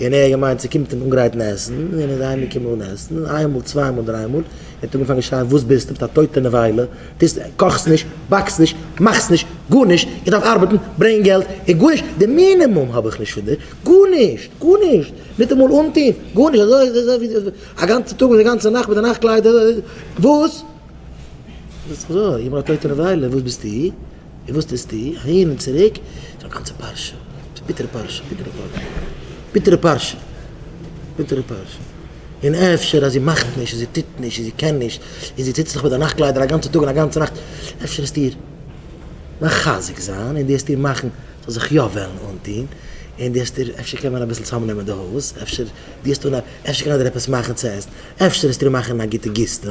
און ער האט געמיינט ס'קומט אים אנגרייטן עסן, און איז אהיימגעקומען אן עסן, איין מאל צוויי מאל דריי מאל, ער האט אנגעפאנגען שרייען וואס ביסטו מיט א טויטע נבילה, טוסט קאכסט נישט, באקסט נישט, מאכסט נישט, גארנישט, איך דארף ארבעטן, ברענגען געלט, און גארנישט, די מינימום האב איך נישט פון דיר, גארנישט, גארנישט, ניטאמאל אנטוהן, גארנישט, אזוי אזוי אזוי ווי א גאנצע טאג מיט א גאנצע נאכט מיט א נאכט קלייד, וואס? זאגסט אזוי איבער א טויטע נבילה, וואס ביסטו? און וואס טוסטו אהין און צוריק? ס'איז א גאנצע פרשה. ס'איז א ביטערע פרשה. ביטערע פרשה. ביטערע פרשה. ביטערע פרשה. און אפשר אז זי מאכט נישט און זי טוט נישט און זי קען נישט און זי טוט זיך מיט די נאכט קליידער א גאנצע טאג און א גאנצע נאכט, אפשר האסטו איר מחזק זיין און דו האסט איר מאכן זאל זיך יא וועלן אנטון און דו האסט איר אפשר קען מען אביסל צאמנעמען די הויז, אפשר דו האסט אן אפשר קען ער דיר עפעס מאכן צו עסן, אפשר האסטו איר מאכן א גוטע גיסטע.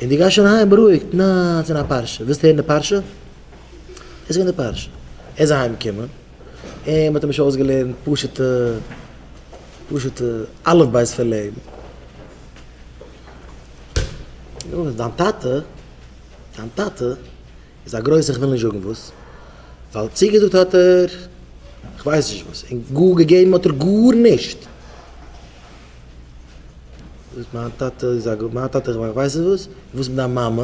און דו גייסט שוין אהיים בארואיגט, נעה, עס איז א פרשה, ווילסט הערן די פרשה? עס איז געווען די פרשה. ער איז אהיים געקומען, און מען האט אים נישט אויסגעלערנט פשוטע, פשוטע אלף בית פון לעבן. נו, דיין טאטע, דיין טאטע איז א גרויסער כ'וויל נישט זאגן וואס, ווייל צוגעזאגט האט ער כ'ווייס נישט וואס, און גאר געגעבן האט ער גארנישט. וואס מיין טאטע איז א גאון, מיין טאטע איך ווייס נישט וואס, וואס מיט דיין מאמע,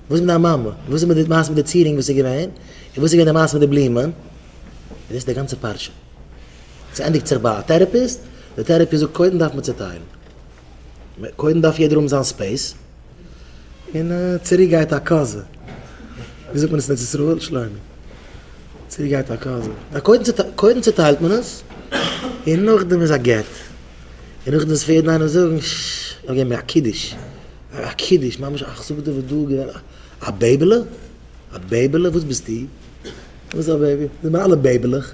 וואס מיט דיין מאמע, וואס איז מיט די מעשה מיט די צירונג וואס איז געווען, און וואס איז געווען די מעשה מיט די בלומען, און דאס איז די גאנצע פרשה, ס'ענדיגט זיך ביי א טערעפיסט, די טערעפיסט זאגט קודם דארף מען צוטיילן, קודם דארף יעדער האבן זיין ספעיס, און צוריק גייט א קאזע. ווי זאגט מען עס אין ארץ ישראל, שלומי? צוריק גייט א קאזע. קודם צוטיילט מען עס, און נאכדעם איז א גט. און נאכדעם וועט יעדן איינעם זאגן, ש, ער געבן מיר א קידוש. א קידוש, ממש א כ'זאג דיר וואס דא געווען א בעיבעלע? א בעיבעלע? וואס ביסטו? וואס א בעיבי? זענען מיר אלע בעיבעלעך.